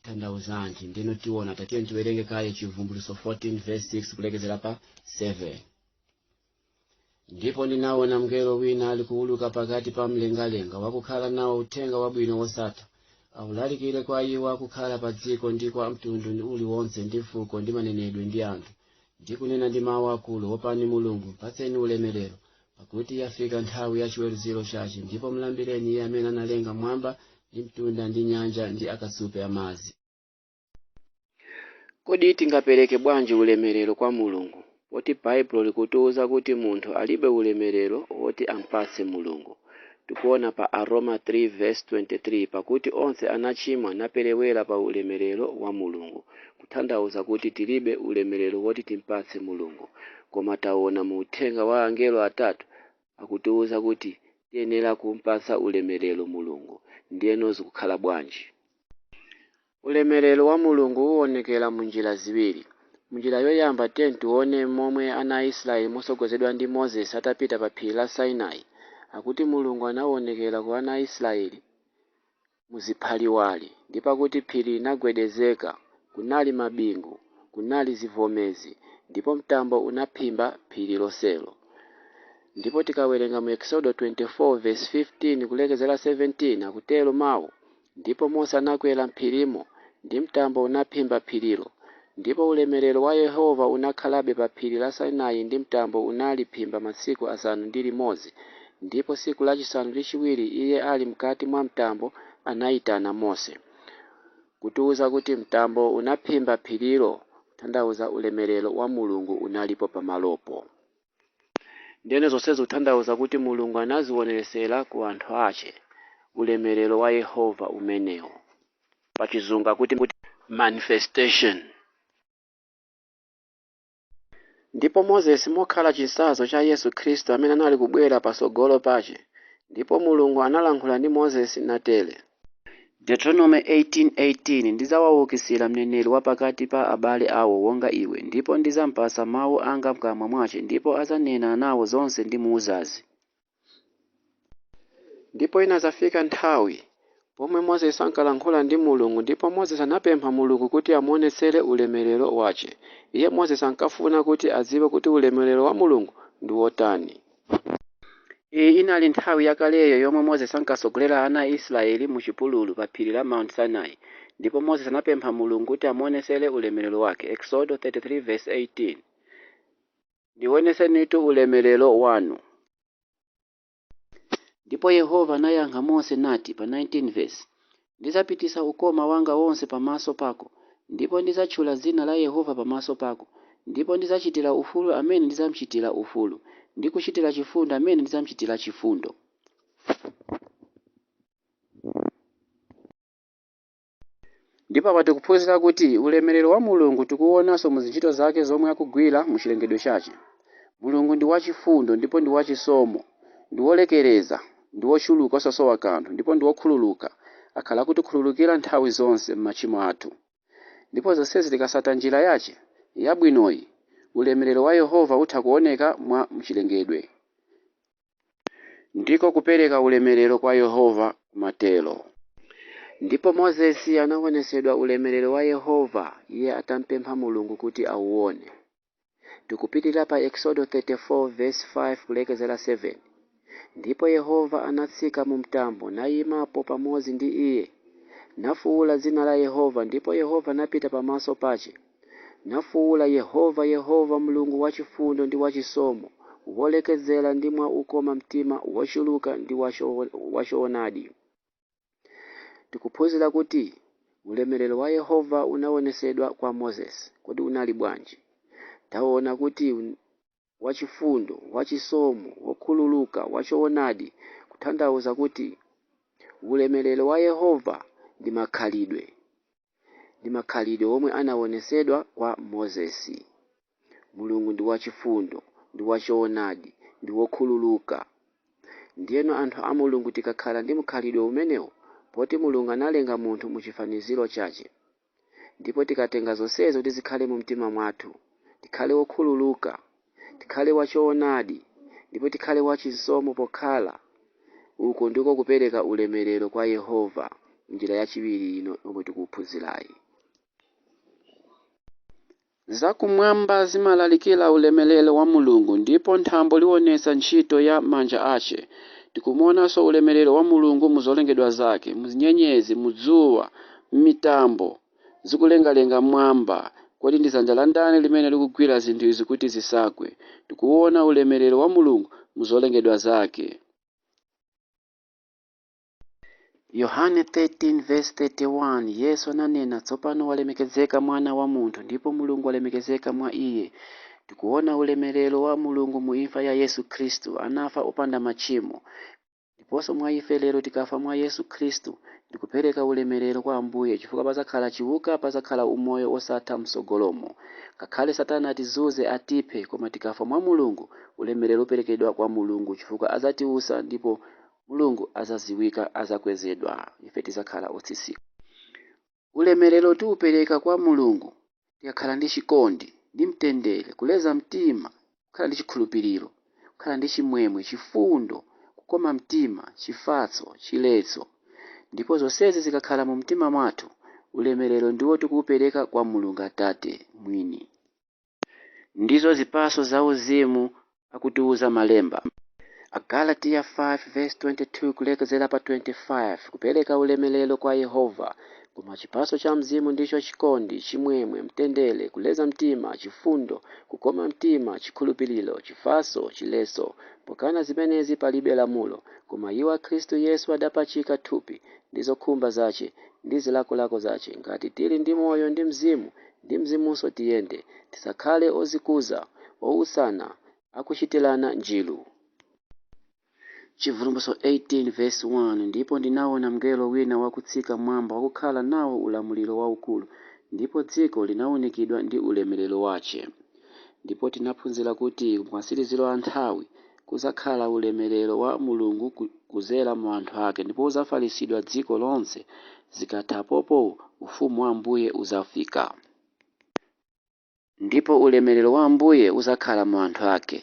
tandauzanji ndino tiona tatiye tiwerenge kaye chivumbuluso 14 verse 6 kulekezera pa 7 ndipo ndinaona mngelo wina alikuwuluka pakati pa mlengalenga wakukhala nawo uthenga wabwino wosatha awulalikire kwa iwo akukhala pa dziko ndi kwa mtundu uliwonse ndi fuko ndi manenedwe ndi anthu ndi kunena ndi mawu akulu wopani mulungu mpatseni ulemerero pakuti yafika nthawi ya chiweruziro chace ndipo mlambireni iye amene analenga m'mwamba ndi mtunda ndi nyanja ndi akasupe amadzi kodi tingapereke bwanji ulemerero kwa mulungu poti baibulo likutiuza kuti munthu alibe ulemerero woti ampatse mulungu Tikuona pa Aroma 3 vs 23 pakuti onse anachimwa naperewera pa ulemelero wa Mulungu kuthandauza kuti tilibe ulemelero woti timpatse Mulungu koma taona mu uthenga wa angelo atatu akutiuza kuti tiyenera kumpatsa ulemelero Mulungu ndiyeno zikukhala bwanji? Ulemerero wa Mulungu uonekera mu njira ziwiri. Mu njira yoyamba, tiyeni tione momwe ana a Israeli motsogozedwa ndi Moses atapita pa phiri la Sinai, akuti Mulungu anaonekera ku ana a Israeli mu ziphaliwali, ndipo akuti phiri linagwedezeka, kunali mabingu, kunali zivomezi, ndipo mtambo unaphimba phiri lonselo. Ndipo tikawerenga mu Eksodo 24 vesi 15 kulekeza 17, akutero mau? Ndipo Mose anakwera m'phirimo, ndi mtambo unaphimba phirilo, ndipo ulemerero wa Yehova unakhalabe pa phiri la Sinai ndi mtambo unaliphimba masiku asanu ndi limodzi, ndipo tsiku lachisanu ndi chiwiri Iye ali m'kati mwa mtambo anayitana Mose, kutiwuza kuti mtambo unaphimba phirilo, kutanthauza ulemerero wa Mulungu unalipo pamalopo. Ndiyeno zonse zikutanthauza kuti Mulungu anazionetsera ku anthu ache ulemerero wa Yehova umenewu. Pa chizungu akuti manifestation. Ndipo Moses mokhala chitsanzo cha Yesu Kristu amene anali kubwera patsogolo pache, Ndipo Mulungu analankhula ndi Moses natere. Deuteronome 18:18, Ndidzawaukitsira mneneri wa pakati pa abale awo wonga iwe, ndipo ndidzampatsa mawu anga m'kamwa mwace, ndipo adzanena nawo zonse ndimuuzazi. Ndipo inadzafika nthawi, pomwe Moses ankalankhula ndi Mulungu, ndipo Moses anapempha Mulungu kuti amuonetsere ulemelero wace. Iye Moses ankafuna kuti adziwe kuti ulemelero wa Mulungu ndi wotani. Iyi inali nthawi yakaleyo yomwe Moses ankatsogolera ana a Isiraeli mu chipululu pa phiri la Mount Sinai ndipo Moses anapempha Mulungu kuti amuonetsere ulemerero wake. Eksodo 33 verse 18. Ndionetsenitu ulemerero wanu. Ndipo Yehova anayankha Mose nati pa 19 vesi, Ndidzapititsa ukoma wanga wonse pamaso pako, ndipo ndidzatchula dzina la Yehova pamaso pako, ndipo ndidzachitira ufulu amene ndidzamchitira ufulu, ndi kuchitira chifundo amene ndidzamchitira chifundo. Ndipo apa tikuphunzira kuti ulemerero wa Mulungu tikuwonanso mu zintchito zake zomwe akugwira mu chilengedwe chache. Mulungu ndi wachifundo ndipo ndi wachisomo, ndi wolekereza. ndi wochuluka osasowa kanthu ndipo ndi wokhululuka, akhala akutikhululukira nthawi zonse machimo athu. Ndipo zonsezi tikatsata njira yache yabwinoyi, ulemerero wa Yehova utha kuoneka mwa m'chilengedwe. Ndiko kupereka ulemerero kwa Yehova kumatero. Ndipo Mosesi anaonetsedwa ulemerero wa Yehova, iye atampempha Mulungu kuti awuone. Tikupitirira pa Eksodo 34 vesi 5 kulekezera 7. Ndipo Yehova anatsika mu mtambo, nayimapo pamodzi ndi iye, nafuwula dzina la Yehova, ndipo Yehova anapita pamaso pache, nafuwula, Yehova, Yehova, Mlungu wachifundo ndi wachisomo, wolekezera ndi mwa ukoma mtima wochuluka ndi wachoonadi. Tikuphunzira kuti ulemerero wa Yehova unaonetsedwa kwa Mosesi. Kodi unali bwanji? Taona kuti un- wachifundo, wachisomo, wokhululuka, wachoonadi, kutanthauza kuti ulemerero wa Yehova ndi makhalidwe. ndi makhalidwe omwe anawonetsedwa kwa Mosesi. Mulungu ndi wachifundo, ndi wachoonadi, ndi wokhululuka. Ndiyeno anthu a Mulungu tikakhala ndi mkhalidwe umenewu poti Mulungu analenga munthu mu chifaniziro chache. Ndipo tikatenga zonsezi kuti zikhale mu mtima mwathu, tikhale wokhululuka. tikhale wachoonadi, ndipo tikhale wachisomo pokhala. Uku ndiko kupereka ulemerero kwa Yehova, njira yachiwiri yino yomwe tikuphunzirayi. Zakumwamba zimalalikira ulemerero wa Mulungu, ndipo thambo lionetsa ntchito ya manja ache. Tikumuonanso ulemerero wa Mulungu mu zolengedwa zake, mu nyenyezi, mu dzuwa, m'mitambo, zikulengalenga mmwamba. Kodi ndi dzanja la ndani limene likugwira zinthu izi kuti zisagwe? Tikuwuwona ulemerero wa Mulungu mu zolengedwa Zake. Yohane 13 vs 31, Yesu ananena, Tsopano walemekezeka Mwana wa munthu, ndipo Mulungu walemekezeka mwa Iye. Tikuwona ulemerero wa Mulungu mu imfa ya Yesu Khristu. Anafa opanda machimo. Ndiponso mwa ife lero tikafa mwa Yesu Khristu ndi kupereka ulemelero kwa Ambuye chifukwa padzakhala chiwuka padzakhala umoyo wosatha mtsogolomu. Ngakhale satana atizuze atiphe koma tikafa mwa Mulungu ulemelero uperekedwa kwa Mulungu chifukwa adzatiutsa ndipo Mulungu adzaziwika adzakwezedwa ife tidzakhala otsitsika. Ulemerero tiupereka kwa Mulungu tikakhala ndi chikondi, ndi mtendere, kuleza mtima, kukhala ndi chikhulupiriro, kukhala ndi chimwemwe, chifundo, kukoma mtima, chifatso, chiletso. Ndipo zonsezi zikakhala mu mtima mwathu, ulemerero ndiwo tikuupereka kwa Mulungu Atate mwini. Ndizo zipatso zauzimu akutiuza malemba. Agalatiya 5 vs 22 kulekezera pa 25 kupereka ulemelero kwa Yehova, Koma chipatso cha Mzimu ndicho chikondi, chimwemwe, mtendere, kuleza mtima, chifundo, kukoma mtima, chikhulupiliro, chifatso, chiletso, pokana zimenezi palibe lamulo. Koma iwo a Kristu Yesu adapachika thupi, ndi zokhumba zache, ndi zilakolako zache. Ngati tiri ndi moyo ndi Mzimu, Ndi Mzimunso tiyende, tisakhale odzikuza, outsana, akuchitirana njiru. Chibvumbulutso 18 vesi 1 Ndipo ndinawona mngelo wina wakutsika m'mwamba wakukhala nawo ulamuliro waukulu, ndipo dziko linaunikidwa ndi ulemerero wache. Ndipo tinaphunzira kuti kumatsiriziro a nthawi, kudzakhala ulemerero wa Mulungu kudzera mu anthu ake ndipo udzafalitsidwa dziko lonse. Zikatha apopo Ufumu wa Ambuye udzafika. Ndipo ulemerero wa Ambuye udzakhala mu anthu ake.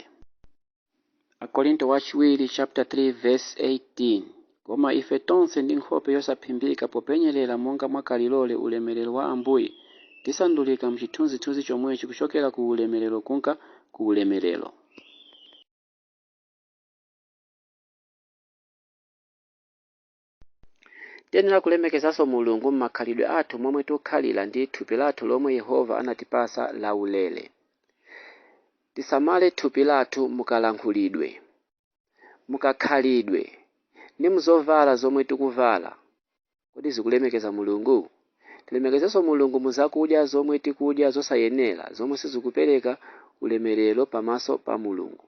Akorinto Wachiwiri chapter 3 verse 18. Koma ife tonse ndi nkhope yosaphimbika popenyerera monga mwa kalilole ulemerero wa Ambuye, tisandulika m'chithunzithunzi chomwechi kuchokera ku ulemerero kumka ku ulemerero. Tiyenera kulemekezanso Mulungu m'makhalidwe athu momwe tikukhalira ndi thupi lathu lomwe Yehova anatipatsa laulere. Tisamale thupi lathu mukalankhulidwe. mukakhalidwe ndi muzovala zomwe tikuvala? Kodi zikulemekeza Mulungu? Tilemekezenso Mulungu mu zakudya zomwe tikudya zosayenera zomwe sizikupereka ulemelero pamaso pa Mulungu.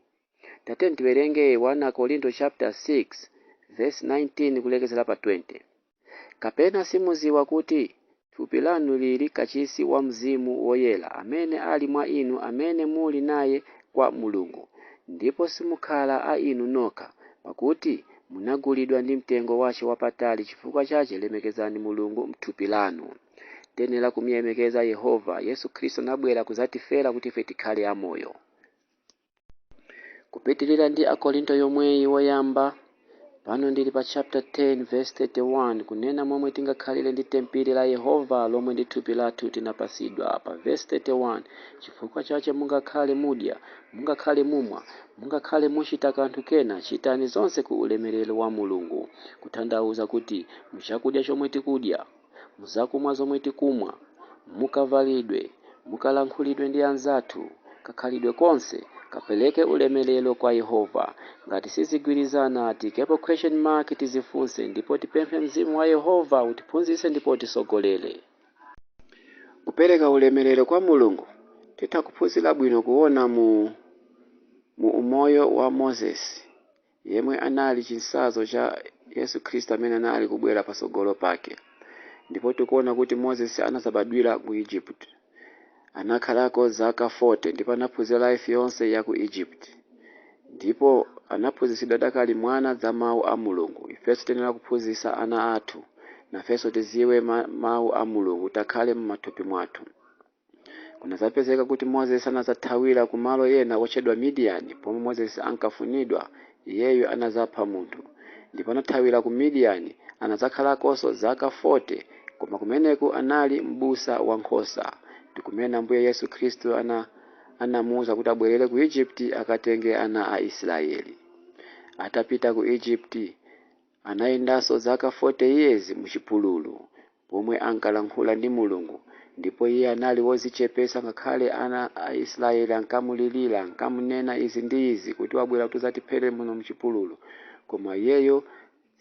Tatiyeni tiwerenge 1 Akorinto chapter 6 verse 19 kulekezera pa 20. Kapena simuziwa kuti thupi lanu liri kachisi wa Mzimu Woyera amene ali mwa inu amene muli naye kwa Mulungu, ndipo simukhala a inu nokha, pakuti munagulidwa ndi mtengo wache wapatali chifukwa chache lemekezani Mulungu mthupi lanu. Tenera kumulemekeza Yehova. Yesu Kristu anabwera kuzatifera kuti ife tikhale amoyo. Kupitirira ndi Akorinto yomweyi woyamba, pano ndili pa chapter 10 verse 31 kunena momwe tingakhalire ndi tempile la Yehova lomwe ndi thupi lathu tinapasidwa pa verse 31 chifukwa chache mungakhale mudya, mungakhale mumwa, mungakhale muchita kanthu kena chitani zonse ku ulemerero wa Mulungu kuthandauza kuti muchakudya chomwe tikudya. mu zakumwa zomwe tikumwa, mu kavalidwe, mu kalankhulidwe ndi anzathu, kakhalidwe konse kapereke ulemelero kwa Yehova. Ngati sizigwirizana, tiikepo question mark, tizifunse, ndipo tipemphe Mzimu wa Yehova utiphunzitse ndipo utisogolere. Kupereka ulemelero kwa Mulungu, titha kuphunzira bwino kuona mu mu umoyo wa Moses yemwe anali chinsazo cha Yesu Khristu amene anali kubwera patsogolo pake. Ndipo tikuona kuti Moses anazabadwira ku Egypt. Anakhalako zaka 40 ndipo anaphunzira life yonse ya ku Egypt. Ndipo anaphunzitsidwa adakali mwana za mau a Mulungu. Ifenso tiyenera kuphunzitsa ana athu. Nafenso tiziwe ma, mau a Mulungu akhale mu mathupi mwathu. Kunadzapezeka kuti Moses anadzathawira ku malo ena otchedwa Midiyani, pomwe Moses ankafunidwa. Iyeyu anadzapha munthu, ndipo anathawira ku Midiyani. Anadzakhala'koso zaka 40, koma kumene'ku anali m'busa wa nkhosa. Ndi kumene Ambuye Yesu Kristu ana anamuuza kuti abwerere ku Egypt akatenge ana a Israyeli. Atapita ku Egypt. Anayendanso zaka 40 years mu chipululu, pomwe ankalankhula ndi Mulungu, ndipo iye anali wozichepesa ngakhale ana a Isilayeli ankamulilira, ankamunena izi ndi izi kuti wabwera kuti uzatiphere muno muchipululu, koma iyeyo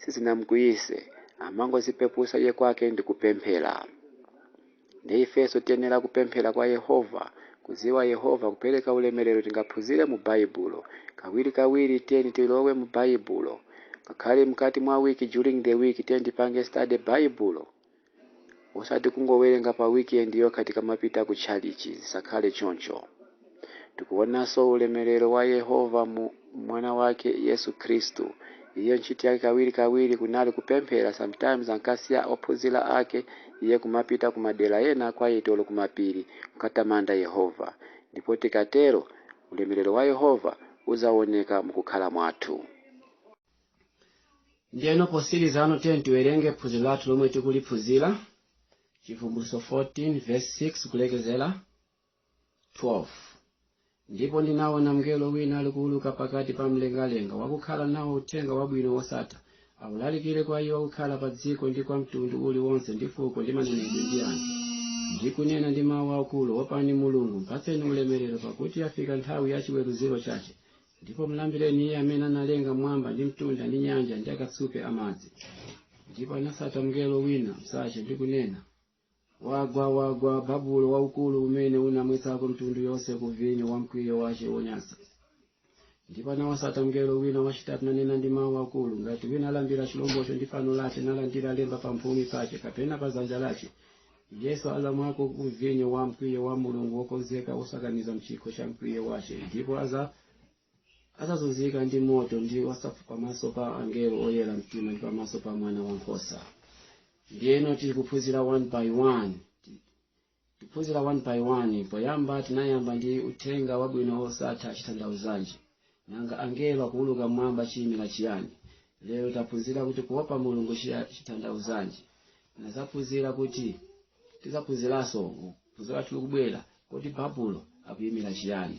sizinamukwiyise, amangozipepusa iye kwake ndikupemphera. Ndiye ifenso tiyenera kupemphera kwa Yehova, kudziwa Yehova, kupereka ulemerero tingaphunzire mu Baibulo. Kawirikawiri tiyeni tilowe mu Baibulo. Ngakhale mkati mwa wiki during the week tiyeni tipange study Baibulo. Osati kungowerenga pa weekend yokha tikamapita ku tchalitchi, zisakhale choncho. Tikuonanso ulemerero wa Yehova mu Mwana wake, Yesu Khristu. Iye ntchito yake kawiri kawiri kunali kupemphera sometimes ankasiya ophunzira ake iye kumapita ku madera ena quiet olo kumapiri kukatamanda Yehova. Ndipo tikatero ulemerero wa Yehova uzaoneka mukukhala mwathu. Ndiyeno potsiriza'no tiyeni tiwerenge phunziro lathu lomwe tikuliphunzira Chivumbulutso 14 vesi 6 kulekezera. 12 ndipo ndinaona mngelo wina alikuuluka pakati pa mlengalenga wakukhala nawo uthenga wabwino wosatha aulalikire kwa iwo akukhala pa dziko ndi kwa mtundu uliwonse ndi fuko ndi manenedwe ndi anthu ndi kunena ndi mawu akulu opani mulungu mpatseni ulemerero pakuti yafika nthawi ya chiweruziro chache ndipo mlambireni iye amene analenga mwamba ndi mtunda ndi nyanja ndi akasupe amadzi ndipo anasata mngelo wina mnzache ndi kunena wagwa wagwa babulo waukulu umene unamwetsako mitundu yonse ku vinyo wa mkwiyo wace wonyansa ndipo anawasata mngelo wina wacitatu nanena ndi mawu akulu ngati wina alambira cilomboco ndi fano lace nalandira lemba pa mphumi pace kapena pa zanja lace iyenso azamwako ku vinyo wa mkwiyo wa mulungu wokonzeka wosakaniza mcikho ca mkwiyo wace ndipo aza adzazunzika ndi moto ndi wa sulfur pamaso pa angelo oyera mtima ndi pamaso pa mwana wankhosa ndiyeno tili kuphunzira one by one Ti- tiphunzira one by one poyamba tinayamba ndi uthenga wabwino wosatha chitanthauzanji nanga angelo akuuluka mmwamba chiyimira chiyani lero taphunzira kuti kuopa mulungu chiya- chitanthauzanji nazaphunzira kuti tizaphunziranso phunziro lathu likubwera kodi babulo akuyimira chiyani